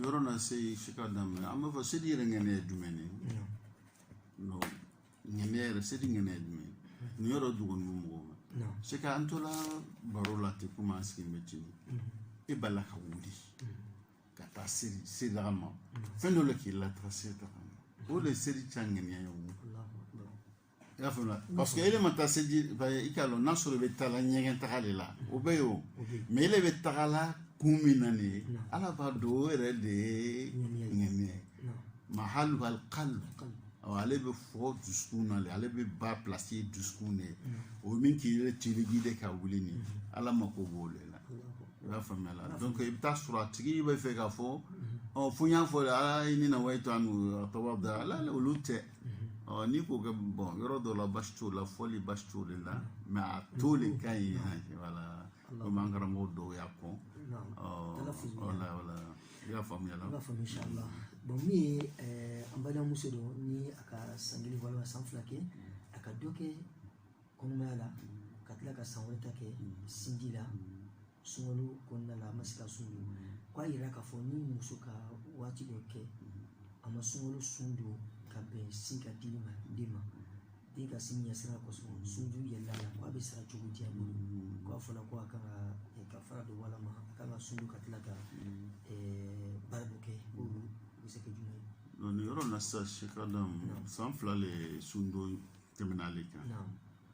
yɔrɔ na se si ka daminɛ an b'a fɔ seli yɛrɛ ŋɛniya ye jumɛn ye ŋɛniya yɛrɛ seli ŋɛniya ye jumɛn ye nin yɔrɔ dogonin mɔgɔw ma se ka an tola baro la ten komi an sigilen bɛ cini e b'a la ka wuli ka taa seli selidaga ma fɛn dɔ le k'i lataga selidaga ma o de ye seliji ta ŋɛniya ye o i y'a faamuya parce que ele ma taa seji i k'a dɔn n'a sɔrɔ i bɛ taa la ɲɛgɛn taga de la o bɛ yen o mais ele bɛ taga la kun min na nin ye ala b'a dɔn o yɛrɛ de ye ŋɛniya ye mahaluha alikalibu ale bɛ fɔ dusukun na de ale bɛ ba pilasi ye dusukun de ye o min k'i yɛrɛ tirigi de ka wuli ni ala mako b'o de la i b'a faamuya la donc i bɛ t'a sɔrɔ a tigi b'a fɛ k'a fɔ ɔ fo n y'a fɔ de ala ye ne nawayitu an atawada ala olu tɛ ɔ n'i k'o kɛ bɔn yɔrɔ dɔ la basi t'o la fɔli basi t'o de la mɛ a to de ka ɲi wala komi an karamɔgɔ dɔw y'a kɔn wala wala i y'a faamuya la i y'a faamuya inshallah bɔn min ye an balimamuso don ni a ka san kelen walima san fila kɛ a ka dɔ kɛ kɔnɔmaya la ka tila ka san wɛrɛ ta kɛ sinji la sunkalo kɔnɔna la a ma se ka sun don k'a yira k'a fɔ ni muso ka waati dɔ kɛ a ma sunkalo sun don ka bɛn sin ka dili ma den ma den ka sin ɲɛsira kosɔn sun juru yɛlɛla a la k'a bɛ sara cogo di a bolo k'a fɔra ko a kan ka eh, kafara don walama a kan ka sun don ka tila ka eh, baara dɔ kɛ o bɛ se ka kɛ jumɛn ye Donc, nin yɔrɔ in na sisan sekadam san fila le ye sundon tɛmɛna ale kan naamu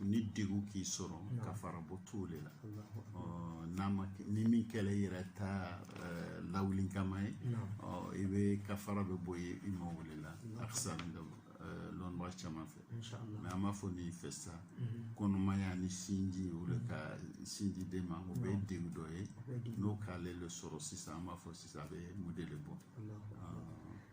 ni degun k'i sɔrɔ kafara bɔ t'o de la n'a ma ni min kɛla i yɛrɛ ta lawuli kama ye i bɛ kafara bɛ bɔ ye i ma o le la a fisa lɔnbaga caman fɛ mɛ an b'a fɔ nin fɛ sa kɔnɔmaya ni sinji o de ka sinji den ma o bɛ degun dɔ ye n'o k'ale le sɔrɔ sisan an b'a fɔ sisan a bɛ mun de bɔ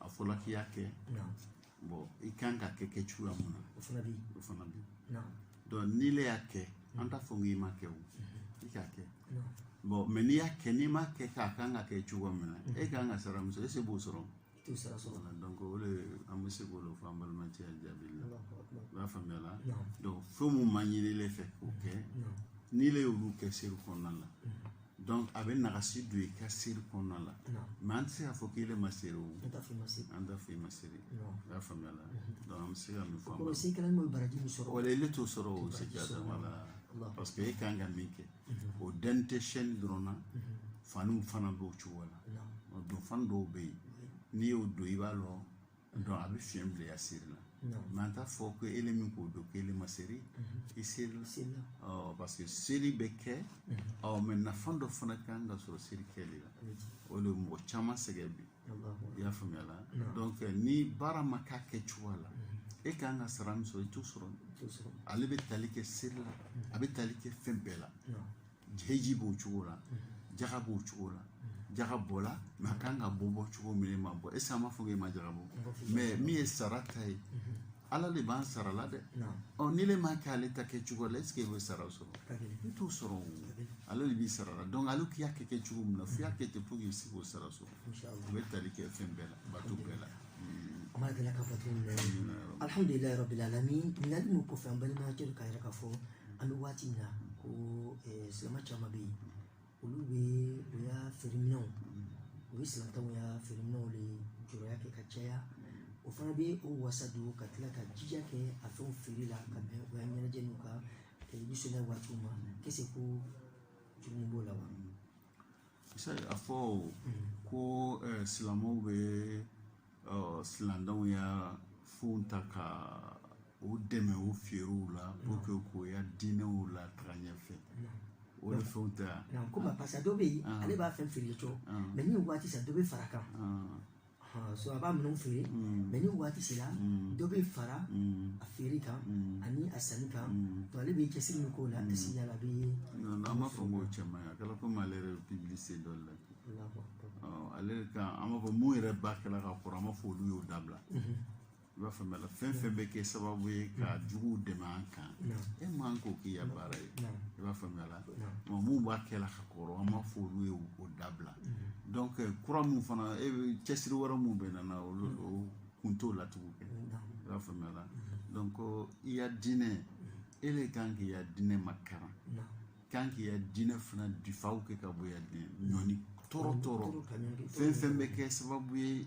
a fɔla k'i y'a kɛ bɔn i kan ka kɛ kɛ cogoya mun na o fana bi o fana bi donc n'i le y'a kɛ an t'a fɔ k'i m'a kɛ o i k'a kɛ bɔn mɛ n'i y'a kɛ n'i m'a kɛ k'a kan ka kɛ cogoya min na e kan ka sara min sɔrɔ ese i b'o sɔrɔ t'o sara sɔrɔ la donc o de an bɛ se k'o de fɔ an balimacɛ jaabi la i b'a faamuya la donc fɛn mun ma ɲini ile fɛ k'o kɛ n'i le y'olu kɛ seri kɔnɔna la dɔnc a bɛ nagasi don i ka seri kɔnɔna la mɛ an tɛ se k'a fɔ k'i yɛrɛ ma seri o an t'a fɔ i ma seri i y'a faamuya la dɔnc an bɛ se ka min fɔ o seri kɛlen bɛ baraji min sɔrɔ wala ele t'o sɔrɔ o se k'a dama la parce que e kan ka min kɛ o dan tɛ shɛni dɔrɔn na faniw fana b'o cogo la o don fani dɔw bɛ yen n'i y'o don i b'a lɔ Donc a bɛ fiɲɛ bila i ya seri la mɛ an t'a fɔ ko e min k'o don k'e ma seri i seri parce que seri bɛ kɛ ɔ mɛ nafa dɔ fana ka kan ka sɔrɔ seri kɛ de la o de mɔgɔ caman sɛgɛn bi i y'a faamuya la donc ni baara ma k'a kɛ cogoya la e kan ka sara min sɔrɔ i t'o sɔrɔ ale bɛ tali kɛ seri la a bɛ tali kɛ fɛn bɛɛ la hiji b'o cogo la jaga b'o cogo la jaga bɔla mɛ a kan ka bɔ bɔ cogo min ma bɔ ese an b'a fɔ k'e ma jaga bɔ mɛ min ye sara ta ye ala de b'an sara la dɛ ɔ n'ile m'a kɛ ale ta kɛ cogo la esike i bɛ sara sɔrɔ i t'o sɔrɔ o ale de b'i sara la donc ale k'i y'a kɛ kɛ cogo min na f'i y'a kɛ ten pour que i se k'o sara sɔrɔ o bɛ tali kɛ fɛn bɛɛ la bato bɛɛ la ma deli ka bato min na alhamdulilayi rabbil alamin ɲininkali min kɔfɛ an balimakɛ k'a yira k'a fɔ an bɛ waati min na ko eh, silamɛ caman bɛ yen olu bɛ u ya feereminɛnw u bɛ silantanw ya feereminɛnw de julaya kɛ ka caya o fana bɛ o wasa don ka tila ka jija kɛ a fɛnw feere la ka bɛn u ya ɲɛnajɛ n'u ka eh, nisɔndiya waatiw ma k'esike jurumu b'o la wa se a fɔ o ko eh, silamɛw bɛ eh, silantanw ya fɛnw ta ka o dɛmɛ o feerew la pour que k'o ya diinɛw lataga ɲɛfɛ o de fɛnw tɛ yan. komi a parce que a dɔ bɛ yen ale b'a fɛn feere cogo mɛ ni waati sera dɔ bɛ fara a kan. so a b'a minɛnw feere mɛ ni waati sera dɔ bɛ fara a feere kan ani a sanni kan donc ale bɛ cɛsiri min k'o la a si yala a bɛ an b'a fɔ ko cɛman ye a kɛra komi ale yɛrɛ bɛ pibilisite dɔ la ale kan an b'a fɔ mun yɛrɛ b'a kɛ la ka kɔrɔ an b'a fɔ olu y'o dabila i b'a faamuya la fɛn fɛn bɛ kɛ sababu ye ka juguw dɛmɛ an kan e man kan k'o k'i ya baara ye i b'a faamuya la mɛ mun b'a kɛ la ka kɔrɔ an b'a fɔ olu y'o dabila donc kura mun fana e bɛ cɛsiri wɛrɛ mun bɛ nana olu o kun t'o la tugun kɛ i b'a faamuya la donc i ya diinɛ e de kan k'i ya diinɛ makaran kan k'i ya diinɛ fana difaa kɛ ka bɔ i ya diinɛ ɲɔni tɔɔrɔ tɔɔrɔ fɛn fɛn bɛ kɛ sababu ye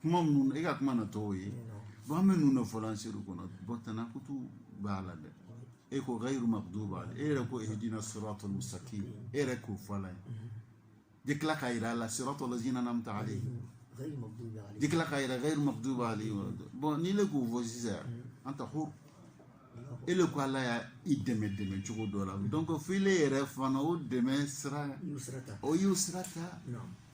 kuma minnu e ka kuma na tɔw ye bon an bɛ ninnu de fɔla an seliw kɔnɔ bon tanakutu b'a la dɛ e ko gayiru makudu b'a la e yɛrɛ ko ihdina siratal mustaqim e yɛrɛ k'o fɔ ala ye de tila k'a yira a la siratal lazina an'amta alayhim de tila k'a yira gayiru makudu b'a la bon n'i le k'o fɔ sisan an ta horo e le ko ala ye i dɛmɛ dɛmɛ cogo dɔ la donc fo ile yɛrɛ fana o dɛmɛ sira o y'o sira ta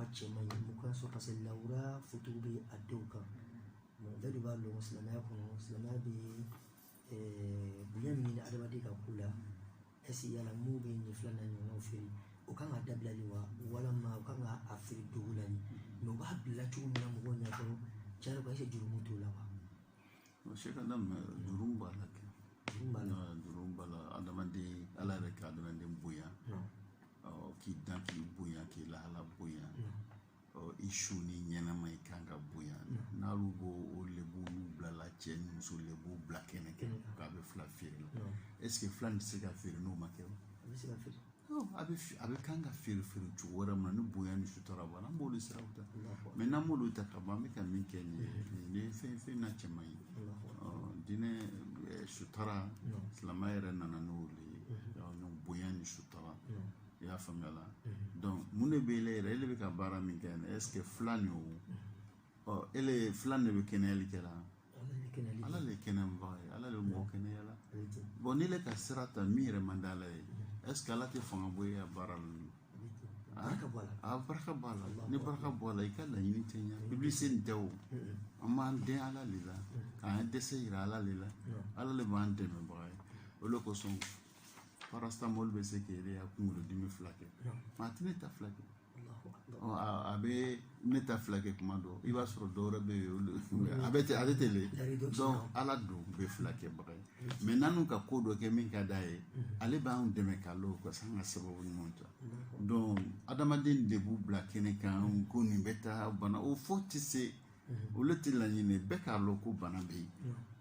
a cɛ man ɲi mun k'a sɔrɔ parce que lawura foto bɛ a denw kan mɛ bɛɛ de b'a dɔn silamɛya kɔnɔ silamɛya bɛ eh, bonya min ɲini adamaden ka ko la ɛsi yala minnu bɛ nin fila na ɲɔgɔnnaw feere o kan ka dabila de wa walama o kan ka a feere dogo la de mɛ u b'a bila cogo min na mɔgɔw ɲɛ kɔrɔ tiɲɛ yɛrɛ la ɛsɛ jurumu t'o la wa Sɛ ka da jurumu b'a la kɛ jurumu b'a la adamaden ala yɛrɛ ka adamaden bonya k'i dan k'i bonya k'i lahala bonya i su ni ɲɛnɛma i kan ka bonya n'alu b'o o lebu bilala cɛ ni muso lebu bila kɛnɛ kan k'a bɛ fila feere la ɛseke fila nin tɛ se ka feere n'o ma kɛ a bɛɛ a bɛɛ kan ka feere feere cogo wɛrɛ min na ni bonya ni sutura b'a la an b'olu siraw ta mɛ n'an m'olu ta ka ban an bɛ ka min kɛ nin ye nin ye fɛn fɛn a cɛ man ɲi diinɛ sutura silamɛya yɛrɛ nana n'o de ye bonya ni sutura i y'a faamuya la mun de bɛ e yɛrɛ e bɛ ka baara min kɛ nin est ce que fila nin o ɔ e le fila de bɛ kɛnɛyali kɛ la ala le kɛnɛyabaa ye ala le mɔgɔ kɛnɛya la bon n'i le ka sira ta min yɛrɛ man di ala ye est ce que ala tɛ fanga bɔ e ka baara la ka baraka b'a la ni baraka bɔ a la i ka laɲini tɛ ɲɛ publicité nin tɛ o an b'an dɛn ala le la k'an dɛsɛ yira ala le la ala le b'an dɛmɛbaga ye o le kosɔn paracetamol bɛ se k'e le ya kunkolodimi fila kɛ mɛ a tɛ ne ta fila kɛ a bɛ ne ta fila kɛ kuma dɔ i b'a sɔrɔ dɔw bɛ yen a bɛ a bɛ tɛ dɔn ala don bɛ filakɛbaga ye mɛ n'u ka ko dɔ kɛ min ka d'a ye ale b'an dɛmɛ ka lɔ ka se an ka sababu ɲuman ta dɔn adamaden de b'u bila kɛnɛ kan ko nin bɛ taa bana o fɔ tɛ se o le tɛ laɲini bɛɛ k'a dɔn ko bana bɛ yen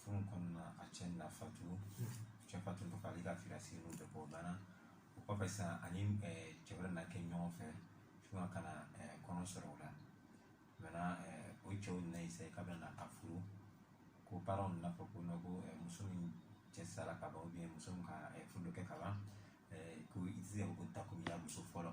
furu kɔnɔna a cɛ nana fatu cɛ fatu tɔ k'ale ka firasi n'u bɛɛ bɔ banna o kɔfɛ sisan ani cɛ wɛrɛ na kɛ ɲɔgɔn fɛ fo ka na kɔnɔ sɔrɔ o la mɛna o cɛw na ye sayi k'a bɛ na a furu ko baaraw nana fɔ ko ko muso min cɛ sara ka ban muso min ka furu dɔ kɛ ka ban ko i tɛ se ka ko ta ko i ya muso fɔlɔ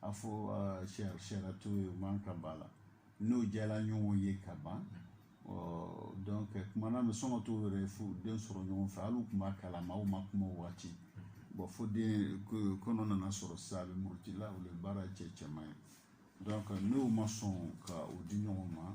a fɔ sariya t'o ye o man kan ba la n'o jɛla ɲɔgɔn ye ka ban donc kuma na bɛ sɔn ka t'o yɛrɛ fo den sɔrɔ ɲɔgɔn fɛ hali u tun b'a kalama aw ma kuma o waati bon fo den kɔnɔ nana sɔrɔ sisan a bɛ murutila o le baara cɛ cɛ man ɲi donc n'o ma sɔn ka o di ɲɔgɔn ma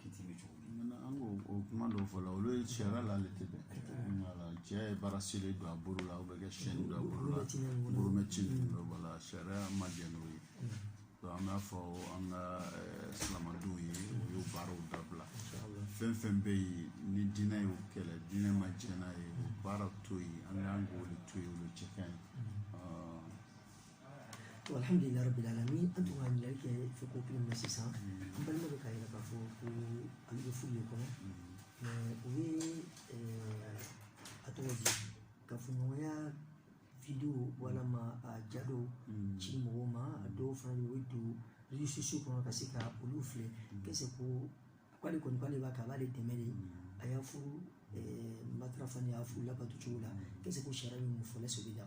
kiti bɛ cogo di an ko o kuma dɔw fɔ la olu ye sariya la ale tɛ bɛn wala cɛ ye bracelet don a bolo la o bɛ kɛ chaîne don a bolo la bolomɛci ninnu bɛ wala sariya ma jɛ n'o ye an b'a fɔ an ka silamɛdenw ye o y'o baaraw dabila fɛn fɛn bɛ yen ni diinɛ y'o kɛlɛ diinɛ ma jɛ n'a ye o baara to yen an ka kan k'o de to yen o de cɛ ka ɲi alhamdulillah rabbil alamin an tun ka ɲininkali kɛ fo ko kelen na sisan n balima bɛ k'a yira k'a fɔ ko ale bɛ furu de kɔnɔ mais o ye a tɔgɔ di kafoɲɔgɔnya video walama a ja dɔw ci mɔgɔw ma a dɔw fana bɛ yen o bɛ don réseaux sociaux kɔnɔ ka se ka olu filɛ qu'est ce que k'ale kɔni k'ale b'a kɛ a b'ale dɛmɛ de a y'a furu matarafa ni y'a furu labato cogo la qu'est ce que sariya bɛ mun fɔ la sɛbɛn la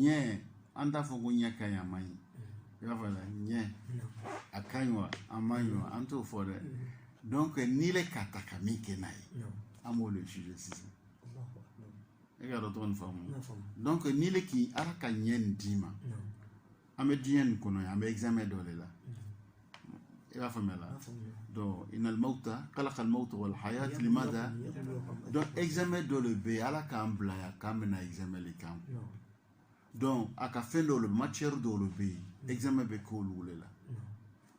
ɲɛ an t'a fɔ ko ɲɛ ka ɲi a man ɲi i b'a fɔ la ɲɛ a ka ɲi wa a man ɲi wa an t'o fɔ dɛ donc n'i le k'a ta ka min kɛ n'a ye an b'o le juger sisan e ka dɔn tɔgɔ nin faamu donc n'i le k'i ala ka ɲɛ nin d'i ma an bɛ diɲɛ nin kɔnɔ yan an bɛ examen dɔ de la i b'a faamuya la donc inal mawta kalakal mawta wal hayat limada donc examen dɔ de bɛ yen ala k'an bila yan k'an bɛna examen de k'an kun donc a ka fɛn dɔw de matière dɔw de bɛ yen examen bɛ k'olu de la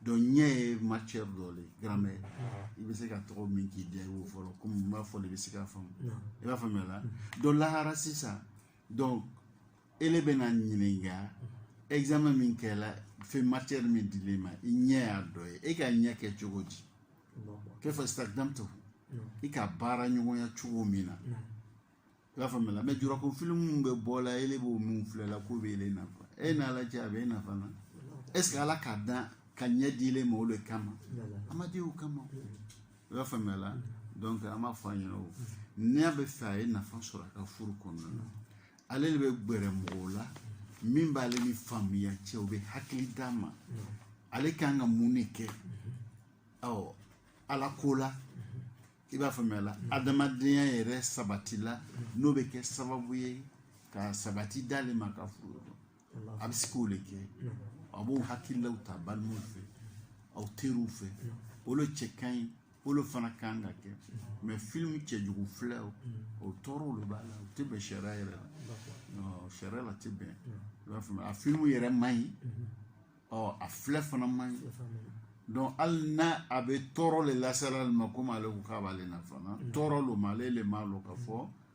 donc ɲɛ ye matière dɔ de ye grammaire i bɛ se ka tɔgɔ min k'i diya i b'o fɔ la komi n b'a fɔ de i bɛ se k'a faamu i b'a faamuya la donc lahara sisan donc e le bɛna ɲininka examen min kɛla fɛn matière min dil'e ma i ɲɛ y'a dɔ ye e ka ɲɛ kɛ cogo di fɛn fɛn stakhdamtu i ka baara ɲɔgɔnya cogo min na i b'a faamuya mais jurako filimu bɛ bɔ la ele b'o min filɛ la k'o bɛ ele nafa e n'a lajɛ a bɛ e nafa na est ce que ala k'a dan ka ɲɛ di ele ma o de kama a m'a di o kama i b'a faamuya la donc an b'a fɔ a ɲɛna ko n'a b'a fɛ a ye nafa sɔrɔ a ka furu kɔnɔna na ale de bɛ gbɛrɛ mɔgɔw la min b'ale ni faamuya cɛ o bɛ hakili d'a ma ale ka kan ka mun de kɛ ɔ ala ko la i b'a faamuya la adamadenya yɛrɛ sabati la n'o bɛ kɛ sababu ye ka sabati d'ale ma ka furu a bɛ se k'o de kɛ a b'o hakililaw ta balimaw fɛ a teriw fɛ o de cɛ ka ɲi o de fana ka kan ka kɛ mais filimu cɛjugu filɛ o tɔɔrɔ de b'a la o tɛ bɛn sariya yɛrɛ la sariya la tɛ bɛn i b'a faamuya a filimu yɛrɛ man ɲi ɔ a filɛ fana man ɲi donc hali n'a a bɛ tɔɔrɔ de lase ale ma komi ale ko k'a b'ale nafa tɔɔrɔ lo mais ale le m'a lɔn k'a fɔ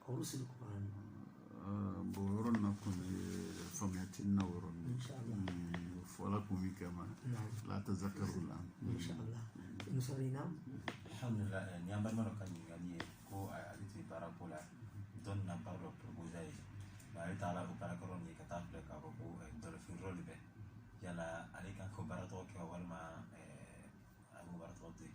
Horosi ni Kurani. Bɔ yɔrɔ na kun bɛ faamuya tɛ na yɔrɔ min. Fɔla kun bɛ kɛ ma. La tɛ zakaru la. Muso in na. Alhamdulilah ni an balimaw ka ɲininkali ye ko ale tɛ baara ko la dɔ nana baara dɔ proposé a ye nka ale taara o baarakɛyɔrɔ nin ye ka taa filɛ k'a fɔ ko dɔlɔmin yɔrɔ de bɛ yala ale kan k'o baara tɔgɔ kɛ walima a bɛ baara tɔgɔ to yen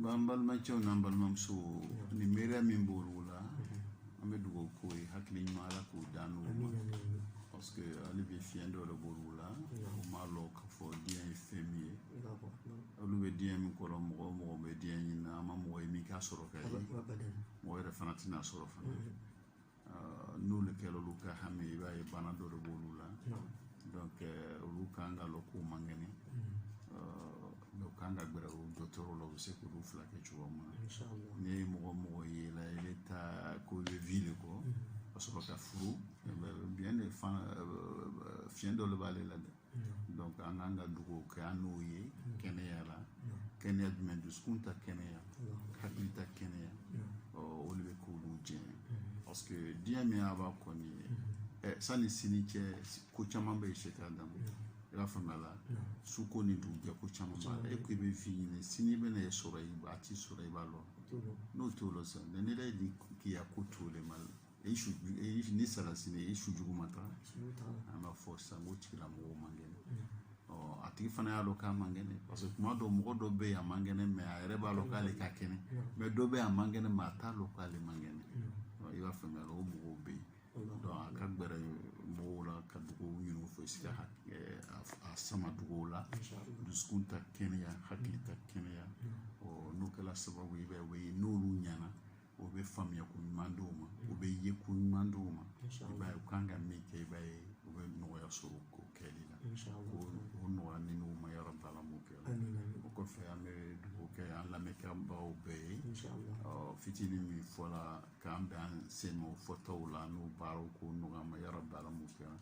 b'an balimacɛw n'an balimamuso ni miiriya min b'olu la an bɛ dugawu k'o ye hakili ɲuman ala k'o d'an n'o ma parce que hali bi fiɲɛ dɔ de b'olu la u m'a lɔn k'a fɔ diɲɛ ye fɛn min ye olu bɛ diɲɛ min kɔrɔ mɔgɔ o mɔgɔ bɛ diɲɛ ɲini na an ma mɔgɔ ye min k'a sɔrɔ ka ye mɔgɔ yɛrɛ fana tɛn'a sɔrɔ fana n'olu kɛra olu ka hami i b'a ye bana dɔ de b'olu la donc euh, olu kan k'a lɔn k'u man kɛnɛ mais u kan ka gbɛrɛ u dɔtɔrɔ la u bɛ se k'olu furakɛ cogoya min na n'i ye mɔgɔ o mɔgɔ ye la i bɛ taa ko i bɛ vie de kɛ ka sɔrɔ ka furu bien de fan fiɲɛ dɔ de b'ale la dɛ donc an kan ka dugawu kɛ an n'o ye kɛnɛya la kɛnɛya jumɛn dusukun ta kɛnɛya hakili ta kɛnɛya ɔ o de bɛ k'olu jɛ parce que diɲɛ min y'a b'a kɔ nin ye ɛ sanni sini cɛ ko caman bɛ yen c'est-à-dire i b'a faamuya la su ko ni dugujɛ ko caman b'a la e ko i bɛ vie ɲini sini bɛna e sɔrɔ i b'a t'i sɔrɔ i b'a lɔn o t'o lɔn sisan ne yɛrɛ ni k'i ya ko t'o le ma i su ni salasi bɛ i su jugu ma taga an b'a fɔ sisan k'o tigilamɔgɔw man kɛnɛ ɔ a tigi fana y'a dɔn k'a man kɛnɛ parce que kuma dɔw mɔgɔ dɔ bɛ yen a man kɛnɛ mais a yɛrɛ b'a dɔn k'ale man kɛnɛ mais dɔ bɛ yen a man kɛnɛ mais a t'a dɔn k'ale man kɛnɛ i b'a faamuya o mɔgɔw bɛ yen donc a ka gɛrɛ mɔgɔw la ka dugawu ɲini u fɛ si ka a sama dugawu la dusukun ta kɛnɛya hakili ta kɛnɛya ɔ n'o kɛra sababu ye i b'a ye n'olu ɲɛna o bɛ faamuya ko ɲuman di o ma o bɛ ye ko ɲuman di o ma i b'a ye u kan ka min kɛ i b'a ye u bɛ nɔgɔya sɔrɔ k'o kɛli la o nɔgɔya an n'u ma yarabi ala m'o kɛ o kɔfɛ an bɛ dugawu kɛ an lamɛnbaaw bɛɛ ye fitinin min fɔla k'an bɛn an sen o fɔtaw la n'u baaraw k'o nɔgɔya an ma yarabi ala m'o kɛ an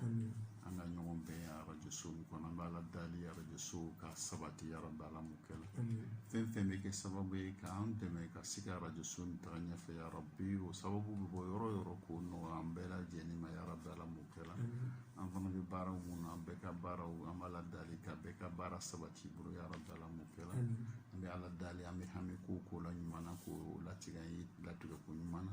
ka ɲɔgɔn bɛn arajoso kɔnɔ an b'ala dali arajoso ka sabati yarabi ala m'o kɛla fɛn fɛn bɛ kɛ sababu ye k'an dɛmɛ ka se ka arajoso nin taga ɲɛfɛ yarabi o sababu bɛ bɔ yɔrɔ yɔrɔ k'o nɔgɔya an bɛɛ lajɛlen ma yarabi ala m'o kɛra an fana bɛ baaraw min na an bɛɛ ka baaraw an b'ala dali ka bɛɛ ka baara sabati bolo yarabi ala m'o kɛra an bɛ ala dali an bɛ hami ko o ko la ɲuman na k'o latigɛ an ye latigɛ ko ɲuman na